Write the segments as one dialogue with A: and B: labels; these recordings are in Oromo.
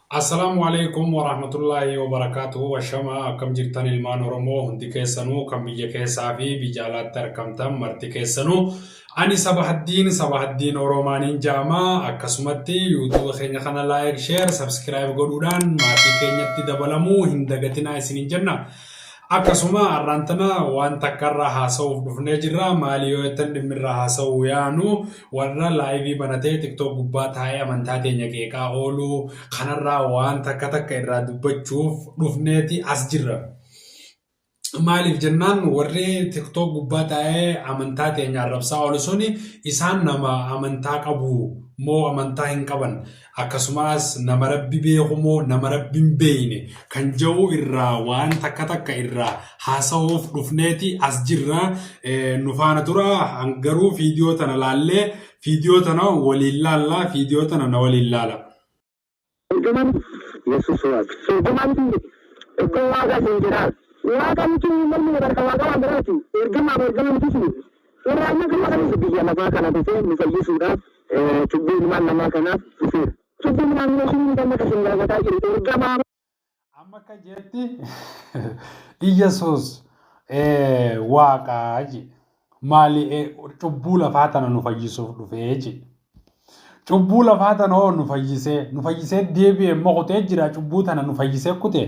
A: Assalaamu Aleeykum Warahmatullaahi Wabarakaatuhu Ashamaa akkam jirtan ilmaan oromoo hundi keessanuu kan biyya keessaa fi biyya alaatti arkamtan marti keessanuu ani sabahaddiin sabahaddiin oroomaaniin ja'ama akkasumatti youtube keenya kana like share subscribe godhuudhaan maatii keenyatti dabalamuu hin dagatinaa isiniin jenna Akkasuma har'aan tana waan takka irraa haasa'uuf dhufnee jirra. Maali yoo jettan dhimmi irraa haasa'uu yaanu warra laayivii banatee tiktook gubbaa taa'ee amantaa teenya qeeqaa oolu kanarraa waan takka takka irraa dubbachuuf dhufneeti as jirra. Maaliif jennaan warri tiktook gubbaa taa'ee amantaa teenya arrabsaa oolu suni isaan nama amantaa qabu moo amantaa hin qaban akkasumaas nama rabbi beeku moo nama rabbi hin beeyne kan ja'u irraa waan takka takka irraa haasahuuf dhufneeti as jirra nu faana tura garuu fiidiyoo tana laallee fiidiyoo tana waliin laallaa fiidiyoo tana na waliin laala. Ergamaan Yesuus Waaq. Ergamaan
B: isin jedhe. Ergamaa Waaqaa isin jedhaa. Waaqa jechuun hin mormine barka Waaqa waan biraati. Ergamaa fi ergama miti isin. Suuraa amma gadi aanutu biyya lafaa
A: kana dhufee nu fayyisuudhaaf cubbuu ilmaan namaa kanaaf dhufeera. Cubbuu ilmaan namaa kun miti amma kan isin gaafataa jiru. Ergamaa. Amma akka jeetti Iyyasuus waaqa jee. Maali cubbuu lafaa tana nu fayyisuuf dhufee jee. Cubbuu lafaa tana hoo nu fayyisee nu fayyisee deebi'e immoo kutee jira cubbuu tana nu fayyisee kutee.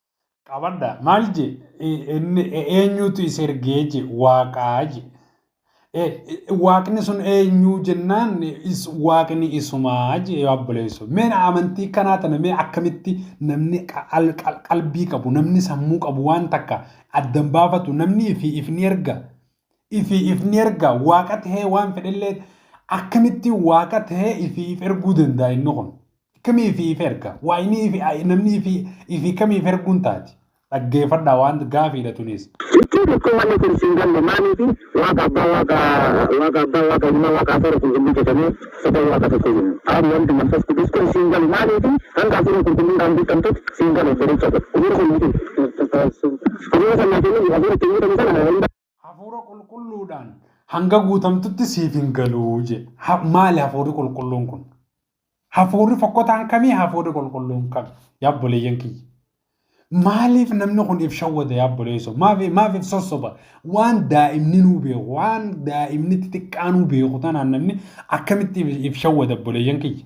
A: qabadha maal je eenyuutu is ergee je waaqaa je waaqni sun eenyuu jennaan is waaqni isumaa je yoo abboleessu mee amantii kanaa tana mee akkamitti namni qalbii qabu namni sammuu qabu waan takka addan baafatu namni ifi ifni erga ifi ifni erga waaqa tahee waan fedhellee akkamitti waaqa tahee ifi if erguu danda'a inni kun Kami ifi if erga? Waa inni ifi namni ifi ifi kami if erguun taati? Dhaggeefadhaa waan gaafiidha tunis. Ittoo tokkoo wanni
B: kun sin galle maaliifi waaqa abbaa waaqa waaqa abbaa waaqa ilmaa waaqa hafuura qulqulluu jetamee sadan waaqa tokko jenna aab wald manfas qudus kun siin galu maaliifi hanga hafuura qulqulluun dhaan guuttamtut siin gale obbolocha koo hafuura kan nuu kennu hafuura kan naa kennun hafuura ittiin guutamu sana Hafuura
A: qulqulluudhaan hanga guutamtutti siif hin galu jedhe. Ha- Maali hafuurri qulqulluun kun? Hafuurri fokkotaan kamii hafuurri qulqulluun kami? Yaabboleeyyan kiyya. Maaliif namni kun if shawwada yaabboleesso? Maaf maaf if sossoba? Waan daa'imni nuu beeku, waan daa'imni xixiqqaa nuu beeku tanaan namni akkamitti if- if shawwada obboleeyyan kiyya?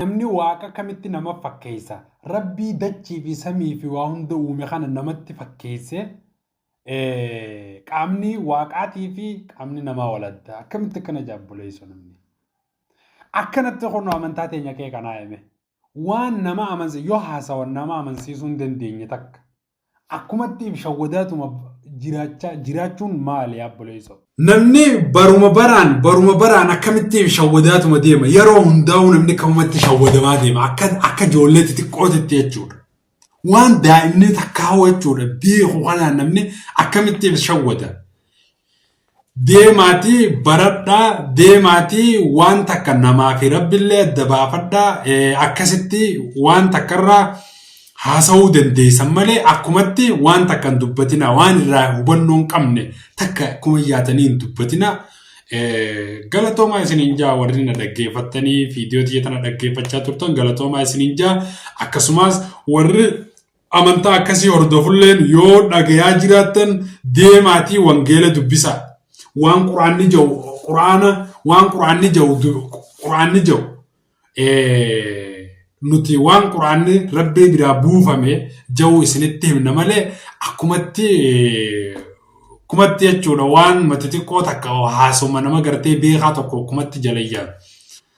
A: Namni Waaqa akkamitti nama fakkeessa? Rabbii dachii fi samii fi waa hunda uume kana namatti fakkeesse qaamni Waaqaatii fi qaamni namaa wal adda. Akkamitti akkana jaabboleessu namni? Akkanatti kun amantaa teenya kee kanaa hime. Waan nama amansiisu yoo haasawan nama amansiisuu hin dandeenye takka. Akkumatti shawwadaatuma jiraachaa jiraachuun maali yaabboleesso? Namni baruma baraan baruma baraan akkamitti shawwadaatuma deema yeroo hundaa'uu namni akkamumatti shawwadamaa deema akka akka ijoollee xixiqqootitti jechuudha. Waan daa'imni takkaa jechuudha beeku kanaan namni akkamitti shawwada. Deemaatii baradhaa, deemaatii waan takka namaa fi Rabbillee adda baafadhaa, akkasitti waan takkarraa haasawuu dandeessan malee akkumatti waan takka hin dubbatinaa, waan irraa hubannoo hin qabne takka akkuma yaatanii hin dubbatinaa. Galatoomaa isiniin jaa warri na dhaggeeffattanii fiidiyoo tiyya tana dhaggeeffachaa turtan galatoomaa isiniin jaa akkasumas warri Amantaa akkasii hordofulleen yoo dhagayaa jiraattan deemaatii wangeela dubbisaa. Waan quraanni ja'u quraana waan quraanni ja'u quraanni ja'u nuti waan quraanni rabbii biraa buufame ja'u isinitti himna malee akkumatti kumatti jechuudha waan mati xiqqoo takka haasoma nama gartee beekaa tokko kumatti jalayyaan.